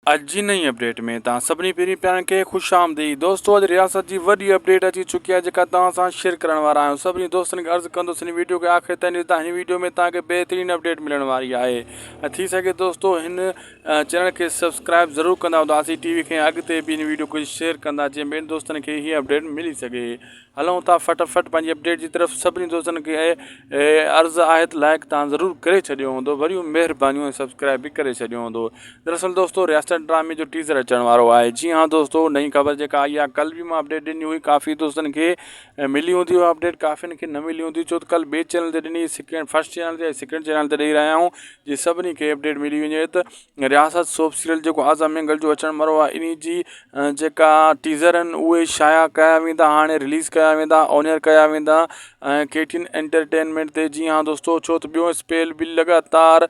اڄ جي نئين اپڊيٽ ۾ توهان سڀني پھرين پيارن کي خوش آمديد دوستو اڄ رياست جي وڏي اپڊيٽ اچي چڪي آهي جيڪا توهان سان شيئر ڪرڻ وارا آهيون سڀني دوستن کي عرض ڪندس هن ويڊيو کي آخر تائين ڏسدا هن ويڊيو ۾ توهان کي بهترين اپڊيٽ ملڻ واري آهي ۽ ٿي سگهي دوستو هن چينل کي سبسڪرائب ضرور ڪندا هوندا اسين ٽي وي کي اڳتي به هن ويڊيو کي شيئر ڪندا جيئن ٻين دوستن کي هي اپڊيٽ ملي سگهي هلون ٿا فٽ فٽ پنهنجي اپڊيٽ جي طرف سڀني دوستن کي عرض آهي ته لائق تان ضرور ڪري ڇڏيو هوندو وريون مهربانيون ۽ سبسڪرائب به ڪري ڇڏيو هوندو دراصل دوستو رياست ڊرامي جو ٽيزر اچڻ وارو آهي جي ها دوستو نئين خبر جيڪا آئي آهي ڪل به مان اپڊيٽ ڏني هئي ڪافي دوستن کي ملي هوندي هو اپڊيٽ ڪافين کي نه ملي هوندي ڇو ته ڪل ٻي چينل تي ڏني سيڪنڊ فرسٽ چينل تي سيڪنڊ چينل تي ڏئي رهيا آهيون جي سڀني کي اپڊيٽ ملي وڃي ته رياست سوپ سيريل جيڪو آزا مينگل جو اچڻ مرو آهي انهي جي جيڪا ٽيزر آهن اهي شايع ڪيا ويندا هاڻي رليز ڪيا ويندا اونيئر ڪيا ويندا ۽ ڪي ٽي اين انٽرٽينمينٽ تي جي هان دوستو ڇو ته ٻيو اسپيل بل لڳاتار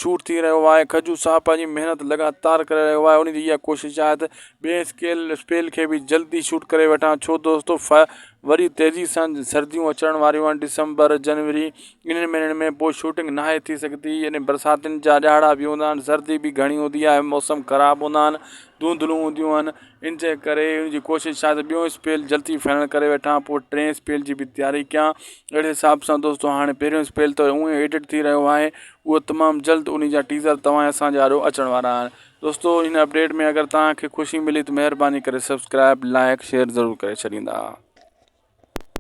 شوٽ ٿي رهيو آهي کجو صاحب پنهنجي محنت لڳاتار ڪري رهيو آهي انهي جي اها ڪوشش آهي ته ٻئي اسڪيل اسپيل کي بي جلدي شوٽ ڪري وٺان ڇو دوستو ف وري تيزي سان سرديون اچڻ واريون آهن ڊسمبر جنوري انهن مهينن ۾ پوء شوٽنگ ناهي ٿي سگهندي يعني برساتين جا ڏهاڙا به هوندا آهن سردي به گهڻي هوندي آهي موسم خراب هوندا آهن ڌونڌلون هونديون آهن ان جي ڪري ان جي ڪوشش آهي ته ٻيو اسپيل جلدي فائنل ڪري وٺان پوء ٽئين اسپيل جي به تياري ڪيان اهڙي حساب سان دوستو هاڻي پهريون اسپيل ته اونئي ايڊٽ ٿي رهيو آهي اهو تمام جلد ان جا ٽيزر توهان جي اسان جي آڏو اچڻ وارا آهن دوستو هن اپڊيٽ ۾ اگر توهان کي خوشي ملي ته مهرباني ڪري سبسڪرائب لائڪ شيئر ضرور ڪري ڇڏيندا